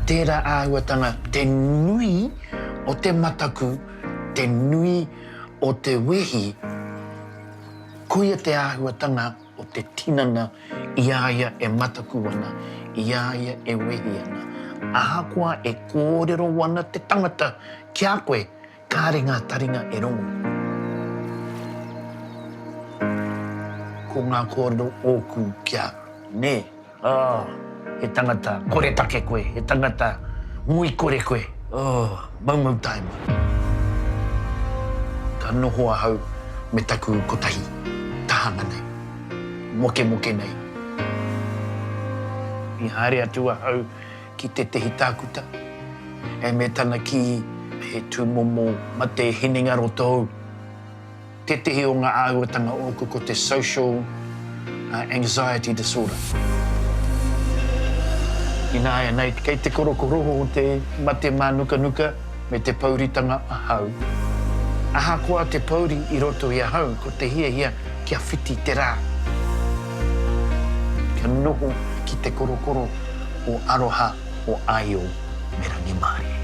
Tērā āhuatanga te nui o te mataku, te nui o te wehi, koia te āhuatanga o te tinana i a ia e mataku ana, i a ia e wehi ana. Ahakoa e kōrero ana te tangata ki a koe, Kāre ngā taringa e rongo. Ko ngā kōrero ōku kia. Nē, oh, he tangata koretake koe, he tangata nguikore koe, oh, maumau taima. Ka noho ahau me taku kotahi tahanga nei, mokemoke nei. I haere atu ahau ki tētehi tākuta, ē, me tana kī he tūmomo mate hinengaro tōu. Tētehi o ngā āhuatanga ōku ko te social anxiety disorder. Ināianei, kei te korokoroho o te mate mānukanuka me te pouritanga ahau. Ahakoa te pouri i roto i ahau ko te hiahia kia whiti te rā, kia noho ki te korokoro. o aroha, o aio me rangimārie.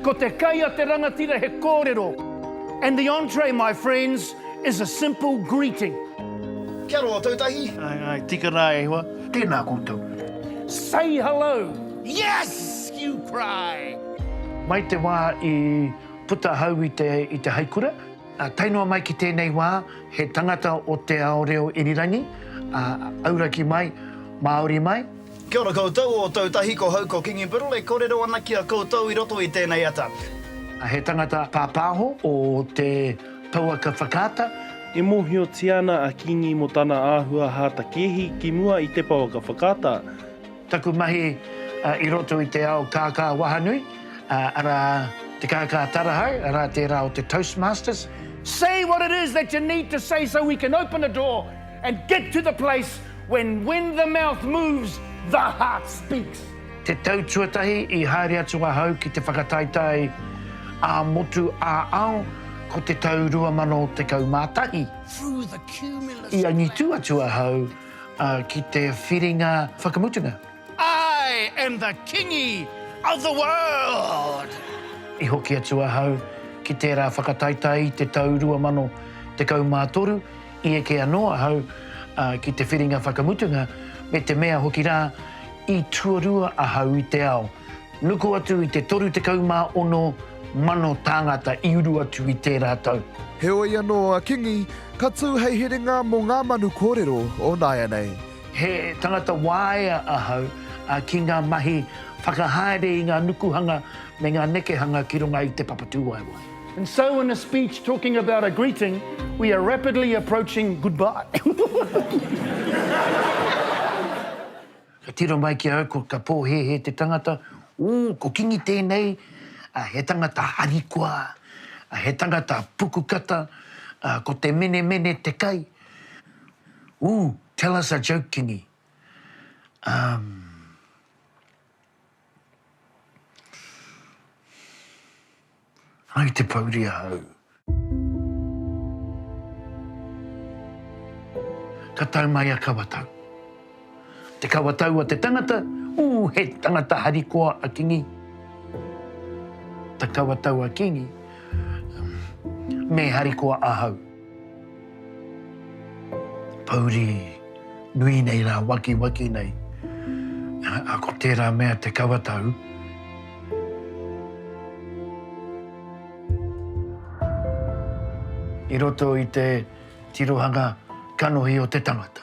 Ko te kai a te rangatira he kōrero and the entree my friends is a simple greeting. Kia roa tou tahi. Ae ae, tika ra e hoa. Tena koutou. Say hello. Yes! You cry! Mai te wā i puta ahau i te i te haikura, ā, tae noa mai ki tēnei wā, he tangata o te ao reo irirangi, ā, auraki mai, Māori mai. Kia ora koutou, o tou tahi ko hau ko Kingi Biddle e korero ana ki a koutou i roto i tenei ata. He tangata pāpāho o te pouaka whakaata. E mōhiotia ana a Kingi mō tana āhua hātakēhi ki mua i te pouaka whakaata. Taku mahi i roto i te ao kākā wahanui, arā, te kākā tarahau, arā tērā o te Toastmasters. Say what it is that you need to say so we can open the door and get to the place when when the mouth moves, the heart speaks. Te tau tuatahi i haere atu ahau ki te whakataetae ā-motu ā-ao ko te tau 2011. I angitu atu ahau ā, ki te whiringa whakamutunga. I am the Kingi of the world! I hoki atu ahau ki tērā whakataetae i te tau 2013, i eke anō ahau, ā, ki te whiringa whakamutunga, me te mea hoki rā, i tuarua ahau i te ao. Nuku atu i te 36 mano tāngata i uru atu i tērā tau. Heoi anō a Kingi ka tū hei herenga mō ngā manu kōrero o nāianei. He tangata waea ahau ki ngā mahi whakahaere i ngā nukuhanga me ngā nekehanga ki runga i te papatūwaewae. And so in a speech talking about a greeting, we are rapidly approaching goodbye. Ka tiro mai ki a au ko ka pōhēhē te tangata, ū, ko Kingi tēnei, a, he tangata harikoa, a, he tangata pukukata, a, ko te menemene te kai, ū, tell us a joke Kingi, um, Hai te pouri ahau. Ka tau mai a Kawatau. Te Kawatau a te tangata, ū he tangata harikoa a Kingi. Ta Kawatau a Kingi, me harikoa ahau. Pouri nui nei rā, wakiwaki nei, ā, ko tērā mea te kawatau. I roto i te tirohanga kanohi o te tangata.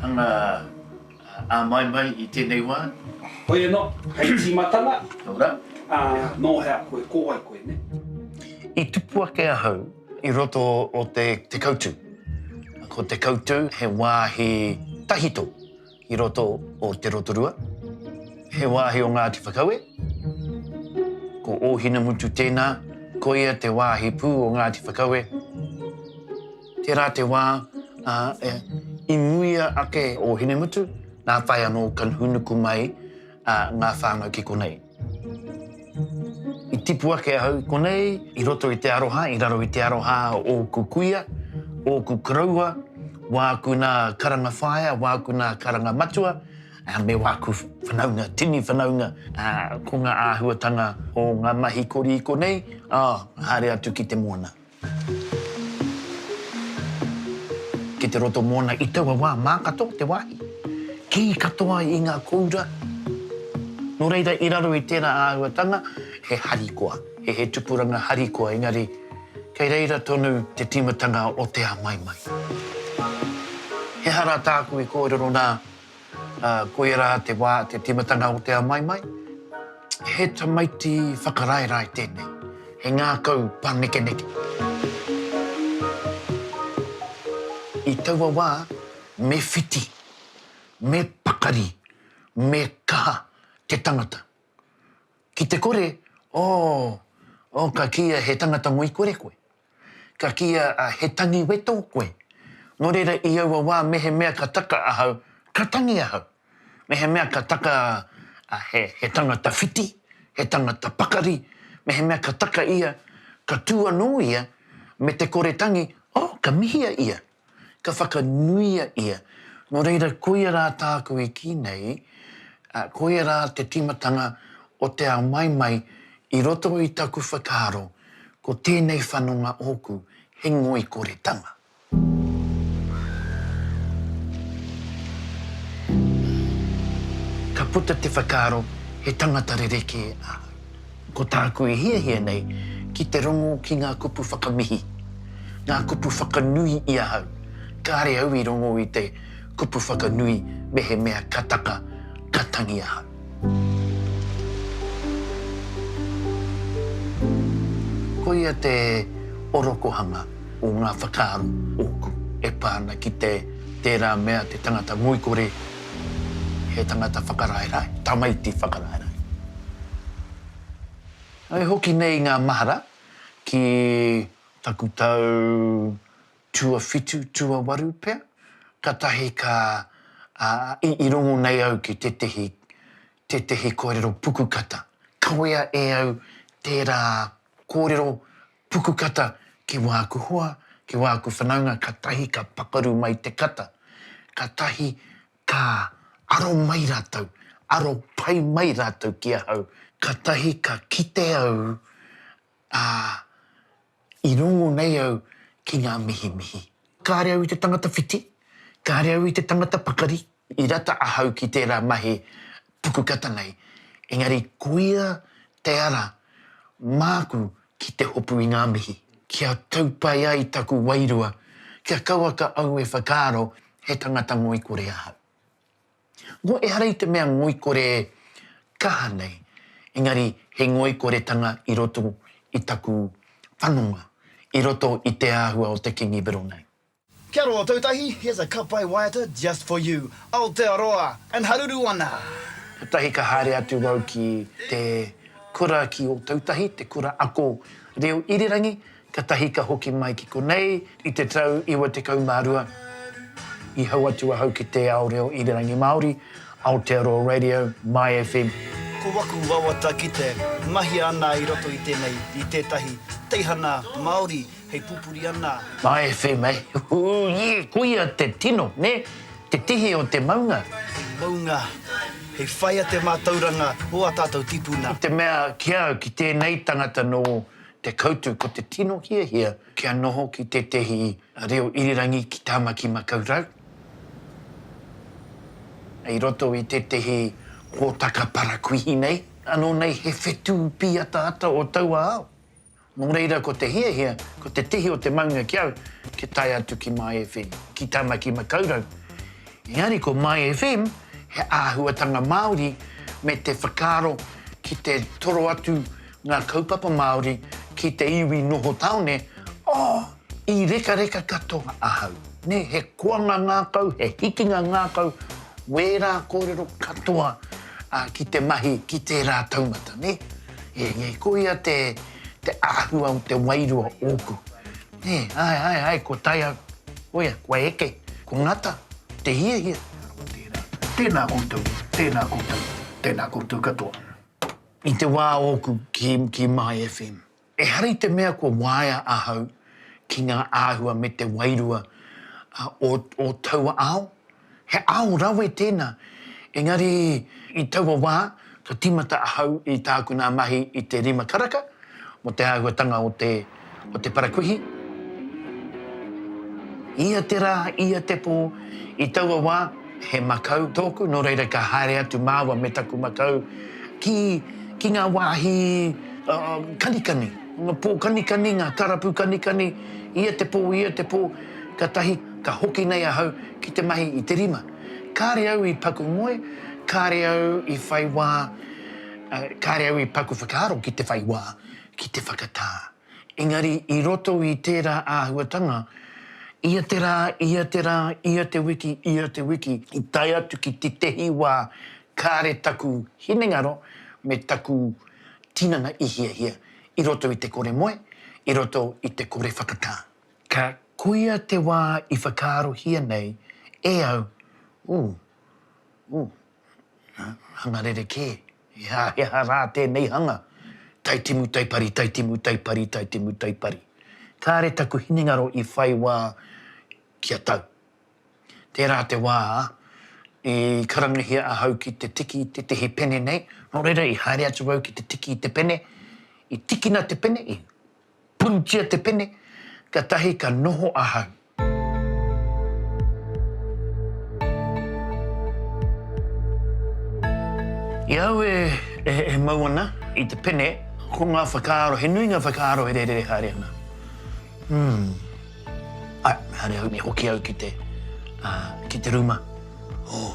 Hanga a mai mai i tenei wa. Hoi ano, hei timatanga. No ra. A, no hea koe, ko wai koe, ne? I tupu ake ahau i roto o te Te Kautu. Ko Te Kautu he wahi tahito i roto o Te Rotorua. He wahi o Ngati Whakaue. Ko Ohinamutu tena, koia te wahi pu o Ngati Whakaue. Tērā te wā, ā, i muia ake o Hinemutu, nā whai anō ka hūnuku mai ngā whānau ki konei. I tipu ake ahau i konei, i roto i te aroha, i raro i te aroha a ōku kuia, ōku koroua, wāku nā karanga whaea, wāku nā karanga matua, me wāku whanaunga, tini whanaunga. Ko ngā āhuatanga o ngā mahi kori i konei, ā, haere atu ki te moana. Ki te roto mōna i taua wā mā katoa te wāhi, kī katoa i ngā kōura. Nō reira i raro i tērā āhuatanga he harikoa, he tupuranga harikoa engari kei reira tonu te tīmatanga o te āmaimai. He aha rā tāku i kōrero nā Ā, koia rā te wā, te tīmatanga o te amaimai. He tamaiti whakaraerae tēnei, he ngākau pānekeneke. I taua wā, me whiti, me pakari, me kaha te tangata. Ki te kore, oh, oh, ka kīia he tangata ngoikore koe. Ka kīia a He tangi weto koe. Nō reira i aua wā mehemea ka taka ahau, ka tangi ahau. Mehemea ka taka a He, he tangata whiti, he tangata pakari, mehemea ka taka ia, ka tū anō ia me te kore tangi, oh, ka mihia ia. Ka whakanuia ia. Nō reira, koia rā tāku i kī nei, koia rā te tīmatanga o te ao maimai i roto i taku whakaaro, ko tēnei whanonga ōku, he ngoikoretanga. Ka puta te whakaaro, he tangata rerekē ahau. Ko tāku i hiahia nei ki te rongo ki ngā kupu whakamihi, ngā kupu whakanui i ahau. Kāre au i rongo i te kupu whakanui mehemea ka taka, ka tangi ahau. Koia te orokohanga o ngā whakaaro ōku e pā ana ki te tērā mea te tangata ngoikore. He tangata whakaraerae, tamaiti whakaraerae. I hoki nei ngā mahara ki taku tau tuawhitu, tuawaru pea, katahi ka, i rongo nei au ki tētehi, tētehi kōrero pukukata. Kawea e au tērā kōrero Puku kata ki wāku hoa, ki wāku whanaunga katahi ka pakaru mai te kata, katahi ka aro mai rātou, aro pai mai rātou ki ahau, katahi ka kite au, ā, i rongo nei au ki ngā mihimihi. Kāre au i te tangata whiti, kāre au i te tangata pakari, I rata ahau ki tērā mahi pukukata nei, engari koia te ara māku ki te hopu i ngā mihi. Kia tau pai ai taku wairua, kia kauaka au e whakaaro he tangata ngoikore ahau. Nō ehara i te mea ngoikore kaha nei, engari he ngoikoretanga i roto i taku whanonga, i roto i te āhua o te Kingi Bironai. Kia roa tou tahi, here's a cup by Waiata just for you, Aotearoa and haruru ana! Kotahi ka haere atu wau ki te kura ki Otautahi, te kura ako reo irirangi, katahi ka hoki mai ki konei i te tau 92. I hau atu ahau ki te ao reo irirangi Māori, Aotearoa Radio, My FM. Ko waku wawata ki te mahia ana i roto i tenei, i tetahi teihana Maori hei pupuri ana. Nā FM eh, ūie, koia te tino, nē, te tihi o te maunga. Maunga, hei whaia te mātauranga o ā tātou tipuna. I te mea ki au, ki tēnei tangata nō Te Koutu, ko te tino hiahia kia noho ki tētehi reo irirangi ki Tāmaki Makau Rau, i roto i tētehi hōtaka parakuihi nei, anō nei he whetū pīataata o taua ao. Nō reira, ko te hiahia, ko te tihi o te maunga ki au, kia tae atu ki My FM, ki Tāmaki Makaurau. Engari ko My FM, he āhuatanga Māori me te whakaaro ki te toro atu ngā kaupapa Māori ki te iwi noho tāone, oh, i rekareka katoa ahau. Nē, he koanga ngākau, he hikinga ngākau, wērā kōrero katoa ki te mahi ki tērā taumata, nē. Engari ko ia te āhua o te wairua ōku. Nē, āe, āe, āe, kua tae au. Koia, kua eke, kua ngata te hiahia. Tēnā koutou, tēnā koutou, tēnā koutou katoa. I te wā ōku ki My FM, ehara i te mea kua waea ahau ki ngā āhua me te wairua o taua ao. He ao rawe tēnā, engari i taua wā ka tīmata ahau i tāku nā mahi i te rima karaka mō te āhuatanga o te o te parakuihi. Ia te rā, ia te pō, i taua wā he makau tōku, nō reira ka haere atu māua me taku makau ki ki ngā wāhi kanikani, ngā pō kanikani, ngā karapu kanikani, ia te pō, ia te pō. Katahi ka hoki nei ahau ki te mahi i te rima. Kare au i paku ngoe, kare au i whai wa, kare au i paku whakaaro ki te whai wa, ki te whakata. Engari i roto i tera ahuatanga, ia te ra, ia te ra, ia te wiki, ia te wiki, i tae atu ki tetehi wa kare taku hinengaro me taku tinana i hiahia i roto i te kore moe, i roto i te kore whakata. Ka koia te wā i whakaarohia nei e au, Ooh, ooh, hanga rerekē, he aha, he aha rā tēnei hanga? Taitimu taipari, taitimu taipari, taitimu taipari. Kāre taku hinengaro i whai wā kia tau. Tērā te wā i karangahia ahau ki te tiki i tētehi pene nei, nō reira i haere atu au ki te tiki i te pene, i tikina te pene, i. Punutia te pene, katahi ka noho ahau. I au e, e, e mau ana i te pene, ko ngā whakaaro, he nui ngā whakaaro e rērere haere ana. Hmm. Ai, haere au, me hoki au ki te, uh, ki te rūma. Oh.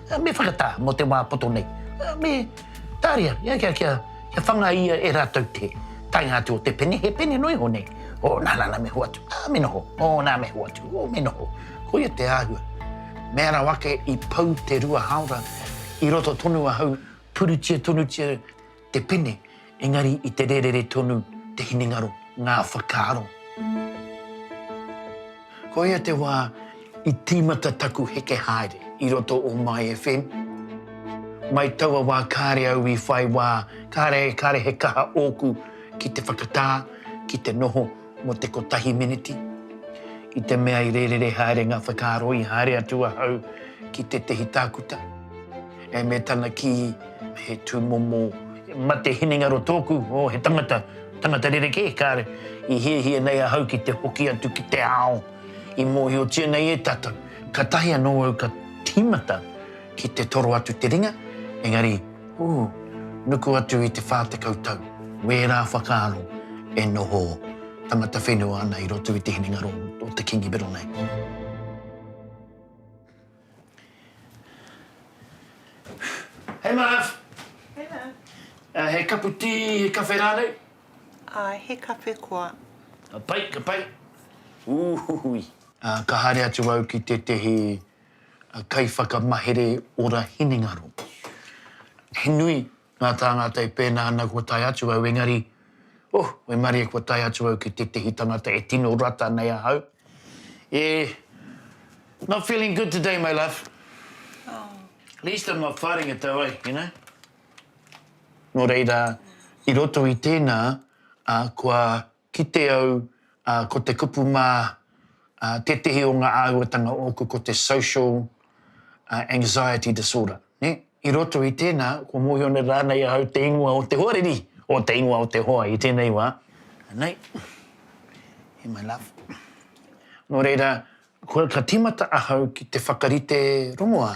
me whakatā mō te wā poto nei, me tāria ia kia, kia, kia whanga ia e rātou te taenga atu o te pene, he pene noa iho nei, o, nā, nā, nā, me hoatu, ā, me noho, o, nā, me hoatu, o, me noho. Koia te āhua. Me ara wake i pau te rua hāora, i roto tonu ahau, purutia tonutia, te pene, engari i te rērere tonu te hinengaro, ngā whakaaro. Koia te wā i tīmata taku heke haere i roto o My FM. Mai taua wā kāre au i whai wā, kāre, kāre he kaha ōku ki te whakatā, ki te noho, mō te kotahi meneti, i te mea i rērere haere ngā whakaaro i haere atu ahau ki tētehi tākuta, e me tana kī he tūmomo. Mate hinengaro tōku, oh, he tangata, tangata rerekē, kāre, i hiahia nei ahau ki te hoki atu ki te ao i mōhiotia nei e tātou. Katahi anō au ka tīmata Ki te toro atu te ringa, engari, ū, nuku atu i te whā tekau tau, wērā whakaaro e noho tangata whenua ana i roto i te hinengaro o te Kīngi Bero nei. Hei Marv! Hei Marv! He kapu tī, he kawhe rānei? Āe, he kawhe koa. Ka pai, ka pai. Ūhuhui! Ka haere atu au ki tētehi a Kaiwhakamahere Ora Hinengaro. He nui ngā tāngata e pēnā ana kua tae atu au engari, oh, waimarie kua tae atu au ki tētehi tangata e tino rata nei ahau. Yeah. Not feeling good today, my love. At least I'm not fighting it though, eh, you know? Nō reira, i roto i tēnā, ā, kua Kite au ko te kupu mā tētehi o ngā āhuatanga o ōku ko te social anxiety disorder. I roto i tēnā, kua mōhio nei rānei ahau te ingoa o te hoariri, o te ingoa o te hoa i tēnei wā. Anei, here my love. Nō reira, ka tīmata ahau ki te whakarite rongoā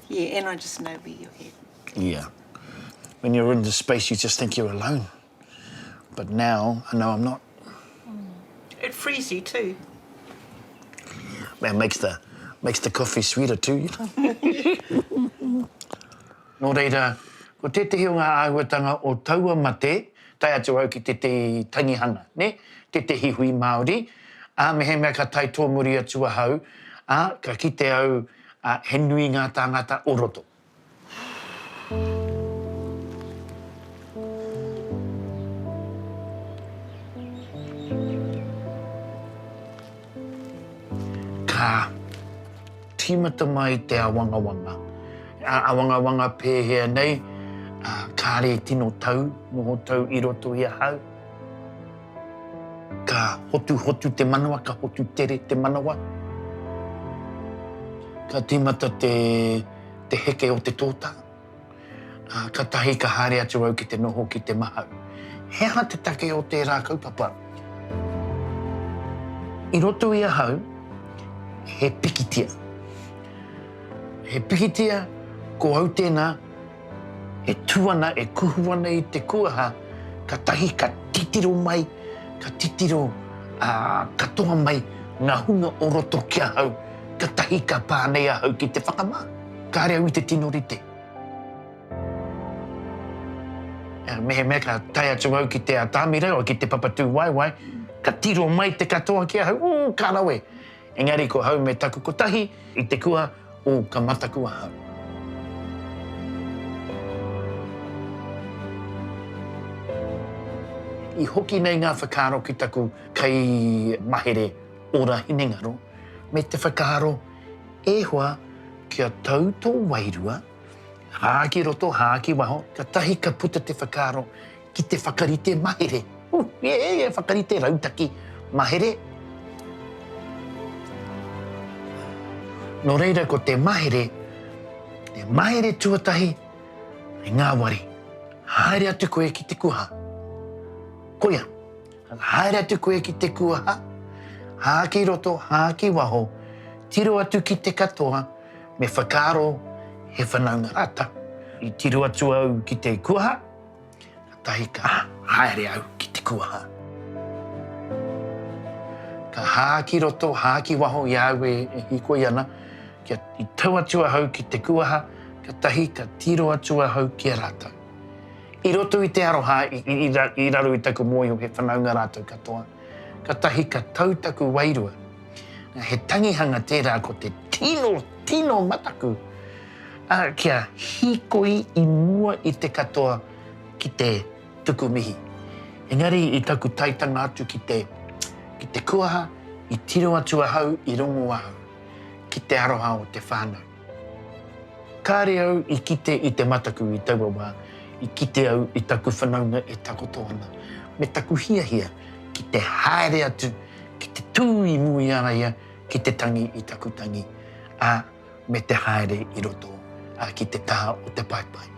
Yeah, and I just know where your head is. Yeah. When you're in the space, you just think you're alone. But now, I know I'm not. Mm. It frees you too. Man, makes the, makes the coffee sweeter too, you know. Nō reira, ko tētehi o ngā āhuatanga o taua mate, tai atu au ki tētehi tangihanga, ne? tētehi hui Māori, ā, mehemea ka tai tōmuri atu ahau, ā, ka kite au, ā, he nui ngā tāngata o roto. Ka tīmata mai te āwangawanga. He āwangawanga pēhea nei, ā, kāre tino tau, noho tau i roto i ahau. Ka hotuhotu te manawa, ka hotu tere te manawa. Ka tīmata te te heke o te tōtā. Katahi ka haere atu au ki te noho ki te mahau. He aha te take o tērā kaupapa? I roto i ahau, he pikitia. He pikitia, ko au tēnā, E tū ana, e kuhu ana i te kuaha, katahi ka titiro mai, ka titiro katoa mai ngā hunga o roto ki ahau, katahi ka pā nei ahau ki te whakamā, kāre au i te tino rite. Mehemea ka tae atu au ki Te Atamira, ki Te Papatūwaewae, ka tiro mai te katoa ki ahau, ū, ka rawe. Engari ko hau me taku kotahi i te kua o ka mataku ahau. I hoki nei ngā whakaaro ki taku kaimahere ora hinengaro me te whakaaro e hoa kia tau tō wairua, hā ki roto, hā ki waho, katahi ka puta te whakaaro ki te whakarite mahere. Hu, he he whakarite rautaki mahere. Nō reira ko te mahere, te mahere tuatahi i ngāwari. Haere atu koe ki te kuaha. Koia, haere atu koe ki te kuaha, hā ki roto, hā ki waho, tiro atu ki te katoa, me whakaaro he whanaunga rātau. I tiro atu au ki te kuaha, Tahika, haere au ki te kuaha. Ka hā ki roto, hā ki waho i a au e hikoi ana, kia i tau atu ahau ki te kuaha, ka tahi ka tiro atu ahau ki a rātou. I roto i te aroha i raro i taku mōhio he whanaunga rātou katoa, ka tahi ka tau taku wairua, He tangihanga tērā ko te tino, tino mataku a kia hīkoi i mua i te katoa ki te tuku mihi. Engari i taku taetanga atu ki te, ki te kuaha i tiro atu ahau i rongo ahau ki te aroha o te whānau. Kāre au i kite i te mataku i taua wā, i kite au i taku whanaunga e takoto ana, me taku hiahia ki te haere atu, ki te tū i mua i a ia ki te tangi i taku tangi, ā, me te haere i roto, ā, ki te taha o te paepae.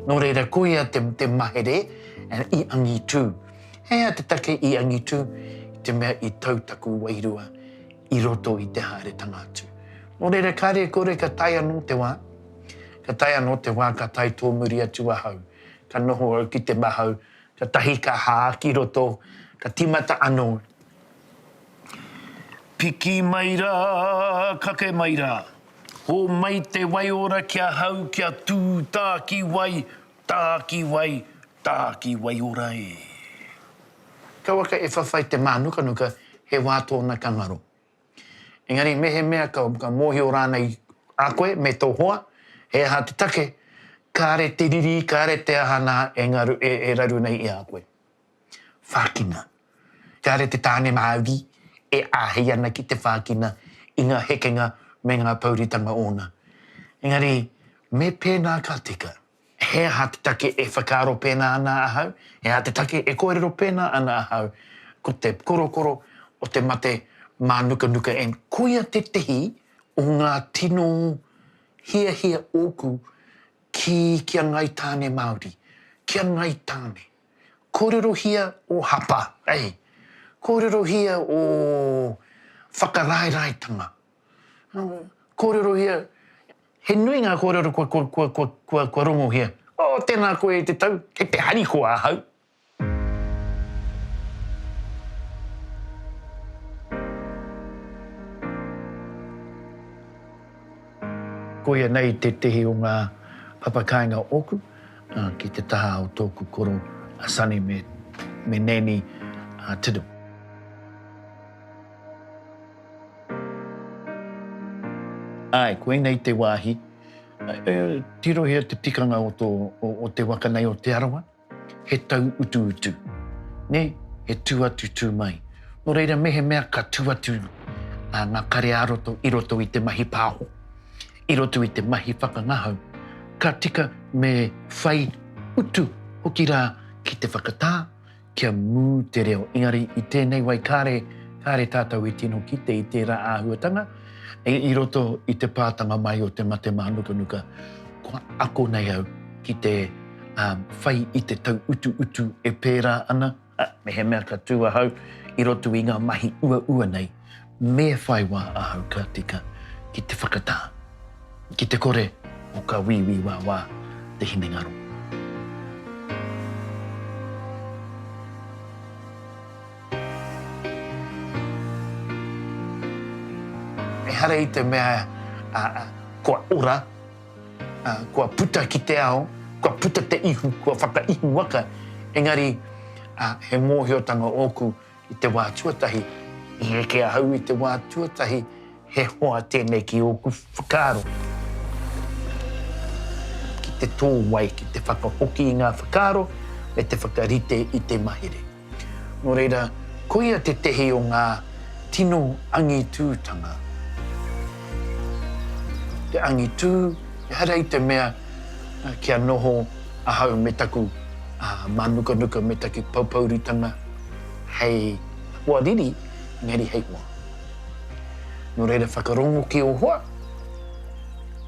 Nō reira, ko ia te, te mahere i angitu. He aha te take i angitu? I te mea i tau taku wairua i roto i te haeretanga atu. Nō reira, kāre kore ka tae anō te wā, ka tae anō te wā ka tae tōmuri atu ahau. Ka noho au ki te mahau, katahi ka hā ki roto, ka timata anō Piki mai rā, kake mai rā. Hōmai te waiora ki ahau kia tū tāki wai, tāki wai, tāki waiora e. Kia waka e whawhai te mānukanuka he wā tōna ka ngaro. Engari mehemea ka mōhio rānei a koe me tō hoa he aha te take, kāre te riri, kāre te aha nā e raru nei i a koe. Whākina. Kāre te tāne Māori e āhei ana ki te whākina i ngā hekenga me ngā pōuritanga ōna. Engari, me pēnā ka tika. He aha te take e whakaaro pēnā ana ahau? He aha te take e kōrero pēnā ana ahau? Ko te korokoro o te mate mānukanuka en. Koia tētehi o ngā tino hiahia ōku ki kia ngai tāne Māori, kia ngai tāne. Kōrerohia ō hapa, eh? Kōrerohia ō whakaraeraetanga. Kōrerohia, he nui ngā kōrero kua, kua, kua, kua, kua, kua rongohia. Oh, tēnā koe e te tau, kei te harikoa ahau. Koia nei tētehi o ngā papakāinga ōku. Ki te taha o tōku koro, a Sonny me Nanny Tiddle. Āe, koinei te wāhi. Tirohia te tikanga o te waka nei o Te Arawa, he tau utuutu, nē, he tū atu tū mai. Nō reira, mehemea ka tū atu ngā kare ā-roto i roto i te mahi pāho, i roto i te mahi whakangahau, ka tika me whai utu hoki rā ki te whakatā kia mū te reo. Engari i tēnei wai kāre, kāre tātou i tino kite i tērā āhuatanga i roto i te pātanga mai o te mate mānukanuka, kua ako nei au ki te whai i te tauutuutu e pērā ana, Ā, mehemea ka tū ahau i roto i ngā mahi uaua nei, me whai wā ahau ka tika ki te whakatā, ki te kore o ka wīwī wāwā te hinengaro. Ehara i te mea kua ora. Kua puta ki te ao, kua puta te ihu, kua whakaihu waka, engari he mōhiotanga ōku i te wā tuatahi, i eke ahau i te wā tuatahi, he hoa tēnei ki ōku whakaaro. Ki te tō wai, ki te whakahoki i ngā whakaaro, me te whakarite i te mahere. Nō reira, koia tētehi o ngā tino angitūtanga. Te angitū, ehara i te mea kia noho ahau me taku mānukanuka me taku poupouritanga hei hoa riri, engari hei hoa. Nō reira, whakarongo ki ō hoa,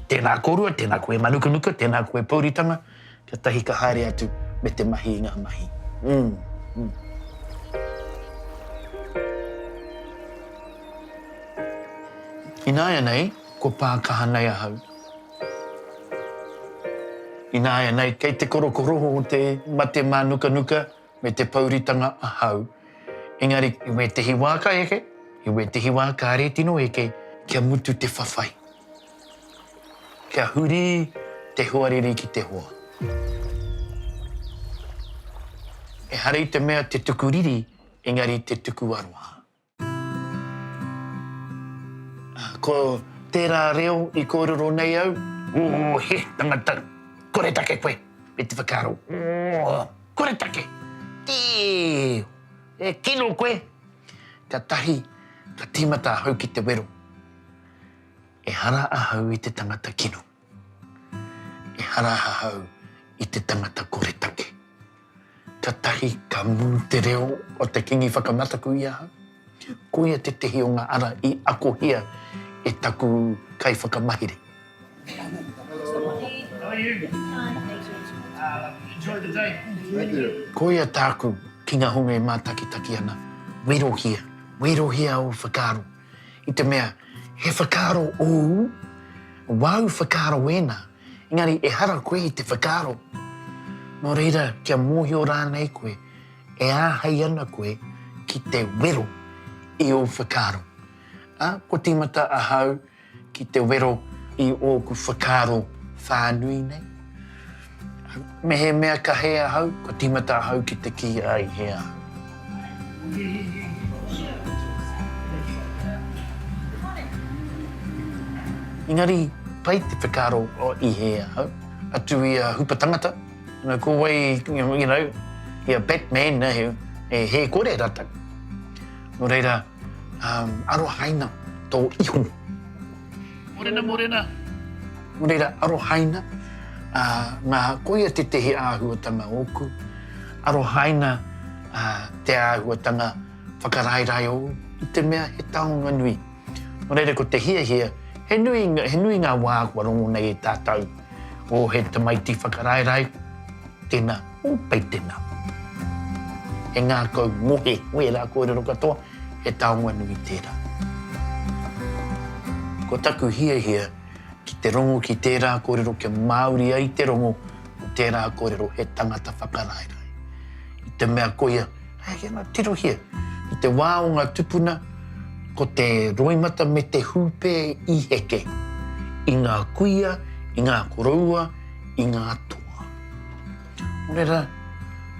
tēnā kōrua, tēnā koe mānukanuka, tēnā koe pouritanga, Kia tahi ka haere atu me te mahi i ngā mahi. Umm. Ināianei, kua pā kaha nei ahau. Ināianei, kei te korokoroho o te mate mānukanuka me te pouritanga ahau. Engari, i wētehi wā ka eke, i wētehi wā kāre tino eke kia mutu te whawhai. Kia huri te hoariri ki te hoa. Ehara i te mea te tuku riri, engari te tuku aroha. Ko tērā reo i kōrero nei au. Ō, he tangata! Koretake koe! me te whakaaro, Ō, koretake! Tēe! E kino koe! Ka tahi, ka tīmata ahau ki te wero. Ehara ahau i te tangata kino. Ehara ahau i te tangata koretake. Katahi ka mū te reo o te Kingi Whakamataku i ahau. Koia tētehi o ngā ara i akohia e taku kaiwhakamahere. Koia tāku ki ngā honga e mātakitaki ana, Wairohia, wairohia ō whakaaro. i te mea he whakaaro ōu, wāu whakaaro ēnā, engari ehara koe i te whakaaro. Nō reira, kia mōhio rānei koe, e āhei ana koe ki te wero i ō whakaaro? Ā, kua tīmata ahau ki te wero i ōku whakaaro whānui nei? Mehemea ka hē ahau, kua tīmata ahau ki te kī a Ihea. Engari, pai te whakaaro o Ihea ahau, atu i a Hupa Tangata, no ko wai, you know, i a Batman ahau, e hē kore ratou. No reira, arohaina tō ihu. Morena, morena. Nō reira, arohaina. Ā, nā, koia tētehi āhuatanga ōku. Arohaina te āhuatanga whakaraerae ōu i te mea he taonga nui. Nō reira, ko te hiahia, he nui, he nui ngā wā kua rongo nei e tātou, o he tamaiti whakaraerae, tēnā, o pei tēnā. He ngākau, ngohe, ngohe rā kōrero katoa. He taonga nui tērā. Ko taku hiahia ki te rongo ki tērā kōrero kia māori ai te rongo o tērā kōrero he tangata whakaraerae. I te mea koia, hei ake anō, tirohia. I te wā o ngā tupuna, ko te roimata me te hūpē i heke i ngā kuia, i ngā koroua, i ngā toa. Wera,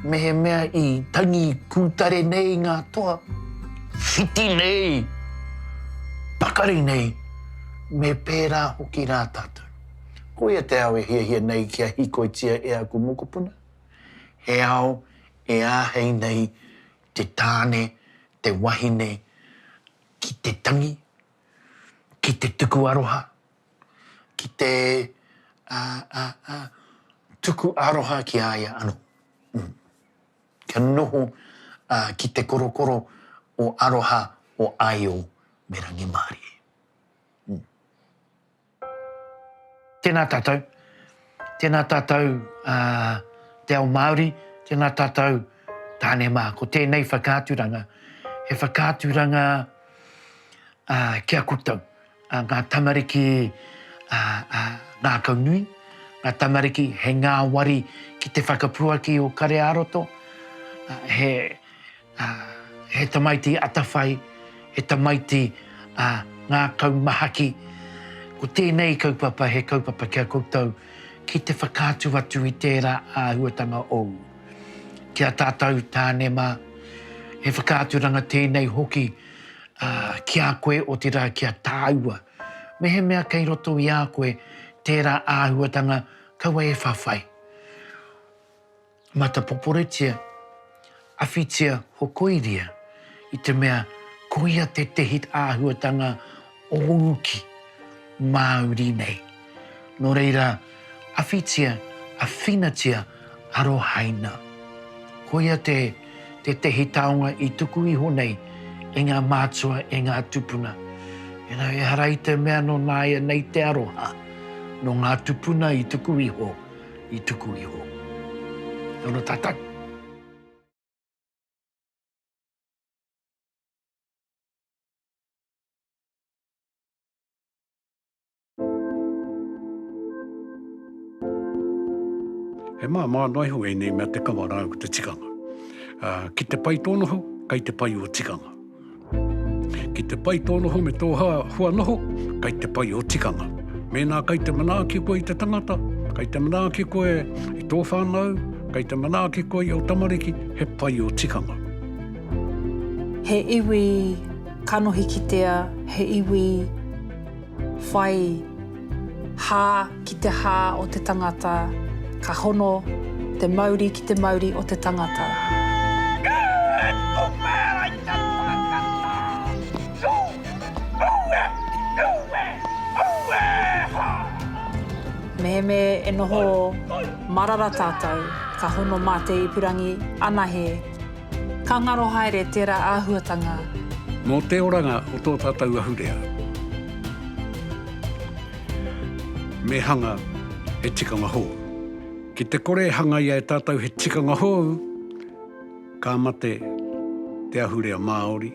Mehemea i tangi pūtare nei ngā toa, whiti nei, pakari nei, me pērā hoki rā tātou. Koia te ao e hiahia nei kia hīkoitia e aku mokopuna, he ao e āhei nei te tāne, te wahine ki te tangi, ki te tuku aroha, ki te tuku aroha ki a ia anō. Kia noho ki te korokoro o aroha o Aio me Rangimārie. Tēnā tātou, tēnā tātou te ao Māori, tēnā tātou tāne mā. Ko tēnei whakaaturanga, he whakaaturanga ki a koutou, ngā tamariki ngākau nui, ngā tamariki he ngāwari ki te whakapuaki o Kare-ā-roto, he... Ā, he tamaiti atawhai, he tamaiti, ā, ngākau mahaki, ko tēnei kaupapa he kaupapa ki a koutou ki te whakaatu atu i tērā āhuatanga ou. Ki a tātou tāne mā, he whakaaturanga tēnei hoki, ā, ki a koe, otirā ki a tāua. Mehemea kei roto i a koe tērā āhuatanga, kaua e whawhai. Matapoporetia, awhitia hokoiria, i te mea koia tētehi āhuatanga o uki Māori nei. Nō reira, awhitia, awhinatia, arohaina. Koia te tētehi taonga i tuku iho nei e ngā mātua, e ngā tupuna. You know, ehara i te mea nō nāianei te aroha, nō ngā tupuna i tuku iho. i tuku iho. Kia ora tatou. He māmā noa iho ēnei mea te kawa rāua ko te tikanga. Ki te pai tōna hau, kai te pai o tikanga. Ki te pai tō noho me tō hā hua noho, kei te pai ō tikanga. Mēnā kei te manaaki koe i te tangata, kei te manaaki koe i tō whānau, kei te manaaki koe i ō tamariki, he pai ō tikanga. He iwi kanohi kitea, he iwi whai. Hā ki te hā o te tangata, ka hono te mauri ki te mauri o te tangata. Mehemē e noho marara tātou, ka hono mā te ipurangi anahe. Ka ngaro haere tērā āhuatanga. Mō te oranga o tō tātou ahurea. Me hanga he tikanga hou. Ki te kore e hangaia e tātou he tikanga hou, ka mate te ahurea Māori.